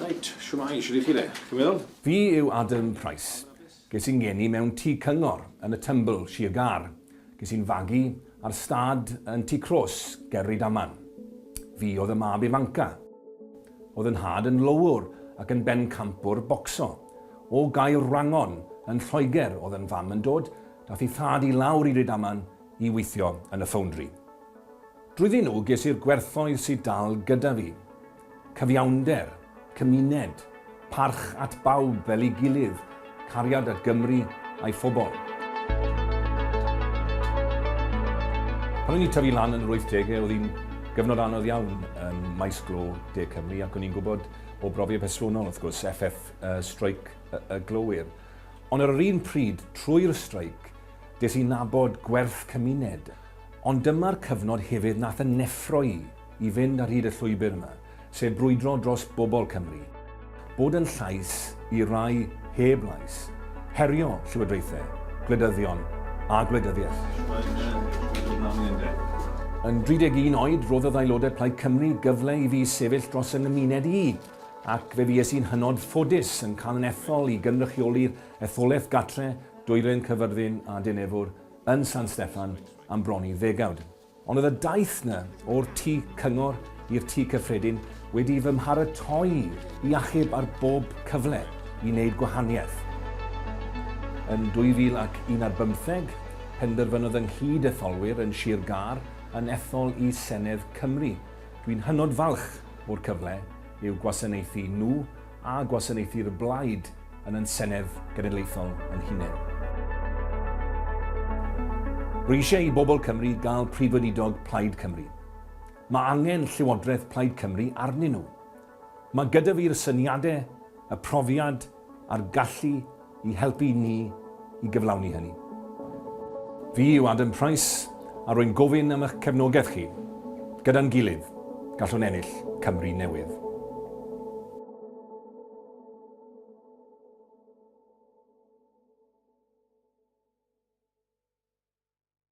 Reit, shwmae, shwt i chi de? Chi'n well? Fi yw Adam Price. Ges i'n geni mewn tŷ cyngor yn y Tymbl, Sir Gâr. Ges i'n fagu ar stad yn Tŷ Cros ger Rydaman. Fi oedd y mab ifanca. Oedd yn nhad yn lowwr ac yn bencampwr bocso. O Gaerwrangon yn Lloegr oedd yn fam yn dod Daeth ei thad i lawr i Rydaman i weithio yn y ffowndri. Drwyddyn nhw ges i'r gwerthoedd sydd dal gyda fi. Cyfiawnder, cymuned, parch at bawb fel ei gilydd, cariad at Gymru a'i phobl. Pan o'n i'n tyfu lan yn yr 80au, oedd hi'n gyfnod anodd iawn ym maes glo De Cymru ac o'n i'n gwybod o brofiad personol, wrth gwrs, FF, streic y glowyr. Ond ar yr un pryd, trwy'r streic, des i nabod gwerth cymuned. Ond dyma'r cyfnod hefyd nath yn neffro i i fynd ar hyd y llwybr yma, sef brwydro dros bobl Cymru. Bod yn llais i rai heb lais. Herio llywodraethau, gwleidyddion a gwleidyddiaeth. Yn 31 oed, roddodd aelodau Plaid Cymru gyfle i fi sefyll dros 'y nghymuned i. ac fe fues i'n hynod ffodus yn cael yn ethol i gynrychioli'r etholaeth Gatre, Dwylen Cyfyrddin a Dinefwr yn San Steffan am bron i ddegawd. Ond oedd y daith 'na o'r Tŷ Cyngor i'r Tŷ Cyffredin wedi fy mharatoi i achub ar bob cyfle i wneud gwahaniaeth. Yn 2001 ar bymtheg, penderfynodd y nghyd-etholwyr yn Sir Gâr yn ethol i Senedd Cymru, Dwi'n hynod falch o'r cyfle i'w gwasanaethu nhw a gwasanaethu'r blaid yn yn Senedd Genedlaethol yn hunain. Rwy eisiau i bobl Cymru gael Prif Weinidog Plaid Cymru. Mae angen Llywodraeth Plaid Cymru arnyn nhw. Mae gyda fi'r syniadau, y profiad a'r gallu i helpu ni i gyflawni hynny. Fi yw Adam Price a rwy'n gofyn am eich cefnogaeth chi. Gyda'n gilydd, gallwn ennill Cymru newydd.